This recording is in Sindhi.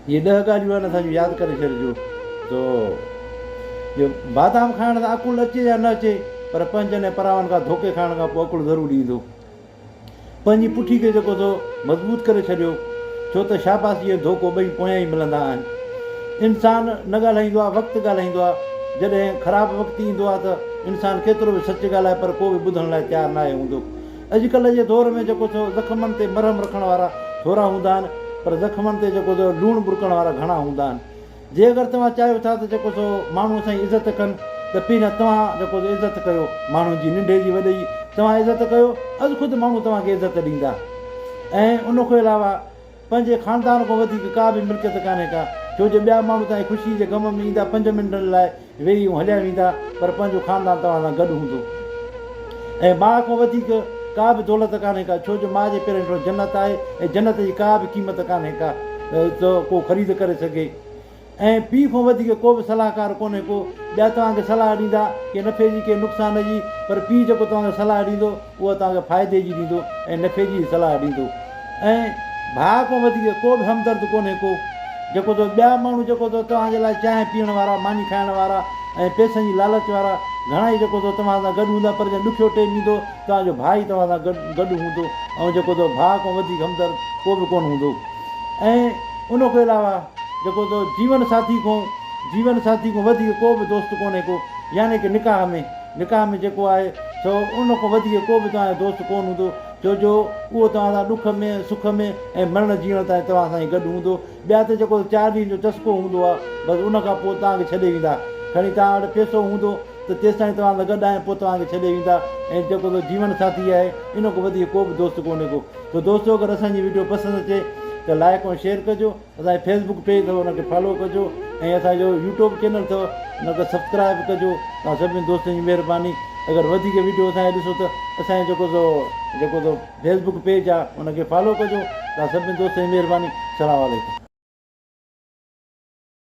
اهي ڏهه ڳالهيون آهن اسان جون ياد ڪري ڇڏجو تو جو بادام کائڻ سان عقل اچي يا نه اچي پر پنهنجن ۽ پراون کان ڌوڪي کائڻ کان پوء عقل ضرور ايندو پنهنجي پٺي کي جيڪو سو مضبوط ڪري ڇڏيو ڇو ته شاباسي ۽ ڌوڪو ٻئي پويان ئي ملندا آهن انسان نه ڳالهائيندو آهي وقت ڳالهائيندو آهي جڏهن خراب وقت ايندو آهي ته انسان ڪيترو به سچ ڳالهائي پر ڪو به ٻڌڻ لاء تيار ناهي هوندو اڄڪلهه جي دور ۾ جيڪو ٿو زخمن تي مرهم رکڻ وارا ٿورا هوندا آهن پر زخمن تي جيڪو ٿو لوڻ ٻرڪڻ وارا گهڻا هوندا آهن جي اگر توهان چاهيو ٿا ته جيڪو ٿو ماڻهو اسان جي عزت ڪن ته پي نه توهان جيڪو ٿو عزت ڪيو ماڻهن جي ننڍي جي وڏي جي توهان عزت ڪيو از خود ماڻهو توهان کي عزت ڏيندا ۽ ان کان علاوه پنهنجي خاندان کان وڌيڪ ڪا به ملڪيت ڪانهي ڪا، ڇو جو ٻيا ماڻهو توهان جي خوشيء جي غم ۾ ايندا پنج منٽن لاء ويهي ۽ هليا ويندا، پر پنهنجو خاندان توهان سان گڏ هوندو. ۽ ماء کان وڌيڪ ڪا به دولت ڪانهي ڪا، ڇو جو ماء جي پيرن هيٺان جنت آهي ۽ جنت جي ڪا به قيمت ڪانهي ڪا، جو ڪو خريد ڪري سگهي. ۽ پي کان وڌيڪ ڪو به صلاحڪار ڪونهي ڪو ٻيا توهان کي صلاح ڏيندا ڪي نفعي جي ڪي نقصان جي پر پي جيڪو توهان کي صلاح ڏيندو اها توهان کي فائدي جي ڏيندو ۽ نفعي جي ئي صلاح ڏيندو ۽ ڀاء کان وڌيڪ ڪو به همدرد ڪونهي ڪو جيڪو تو ٻيا ماڻهو جيڪو تو توهان جي لاء چانهه پيئڻ وارا ماني کائڻ وارا ۽ پئسن جي لالچ وارا گهڻا ئي جيڪو تو توهان سان گڏ هوندا پر جڏهن ڏکيو ٽيم ايندو توهان جو ڀاء ئي توهان سان گڏ هوندو ۽ جيڪو تو ڀاء کان وڌيڪ همدرد ڪو به ڪونه هوندو ۽ ان کان علاوه جيڪو تو جيون ساٿي کان جيون ساٿي کان وڌيڪ ڪو به دوست ڪونهي ڪو يعني ڪه نڪاح ۾ نڪاح ۾ جيڪو آهي سو ان کان وڌيڪ ڪو به توهان جو دوست ڪون هوندو ڇو جو اهو توهان سان ڏک ۾ سک ۾ ۽ مرڻ جيئڻ تائين توهان سان ئي گڏ هوندو ٻيا ته جيڪو چار ڏينهن جو چسڪو هوندو آهي بس ان کان پوء توهان کي ڇڏي ويندا کڻي توهان وٽ پيسو هوندو ته تيستائين توهان سان گڏ آهن پوء توهان کي ڇڏي ويندا ۽ جيڪو تو جيون ساٿي آهي ان کان وڌيڪ ڪو به دوست ڪونهي ڪو. سو دوستو اگر اسان جي ويڊيو پسند اچي ته لائڪ ۽ شيئر ڪجو اسان جي فيس بڪ پيج اٿو ان کي فالو ڪجو ۽ اسان جو يوٽيوب چينل اٿو ان کي سبسڪرائب ڪجو توهان سڀني دوستن جي مهرباني اگر وڌيڪ ويڊيو اسان جي ڏسو ته اسان جي جيڪو سو جيڪو سو فيس بڪ پيج آ ان کي فالو ڪجو توهان سڀني دوستن جي مهرباني سلام عليڪم